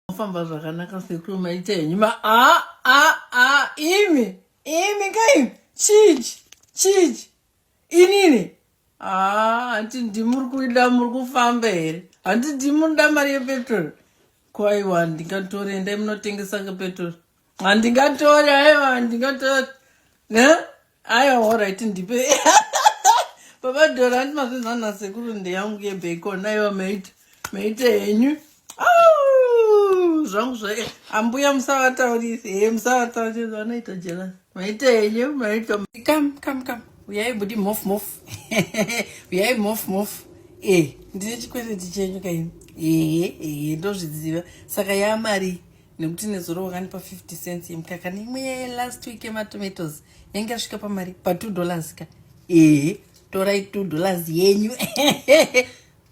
mofamba zvakanaka sekuru maita henyu ma a a a imi imi kaimi chichi chichi inini aa hanti ndimuri kuida muri kufamba here hanti ndimunoda mari yepetrol kwaiwa handingatori endai munotengesa ngepetrol handingatori aiwa handingatori ne Aya alright ndipe. Baba Dora andi mazvinzwa na sekuru ndeyangu ye bacon ayo maita maita henyu. Au! Zvangu zva ambuya musavataurisi. He musavataurisi vanoita jealous. Maita henyu maita come come come. Uyai budi mof mof. Uyai mof mof. Eh, ndine chikwereti chenyu kaini. Eh, eh, ndozviziva. Saka ya mari. nekuti nezuro wakandipa 50 cents yemukaka neimwe yaye last week yematomatoes yange yasvika pamari pa2 dollars ka ee torai 2 dollars yenyu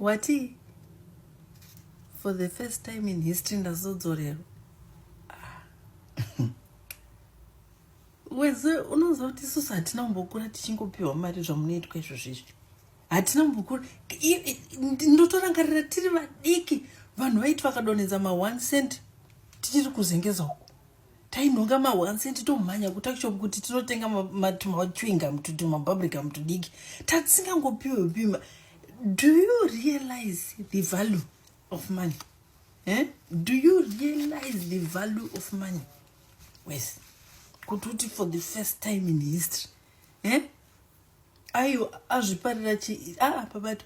wati for the first time in history ndazodzorerwa ah. weze unoziva kuti isusu hatina kumbokura tichingopiwa mari zvamunoitwa izvozvizvi hatina mbukuru ndotorangarira tiri vadiki vanhu vaiti vakadonhedza ma one cent tichiri kuzengeza uku tainhonga ma one cent tomhanya kutakishop kuti tinotenga tumachwinga mtuti mababrika mtudiki tatisingangopiwe pima do you realize the value of money eh? do you realize the value of money wes kuti uti for the first time in history eh? Ayo azviparira chi ah pabatu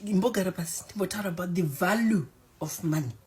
mbogara pasi ndimbotaura about the value of money.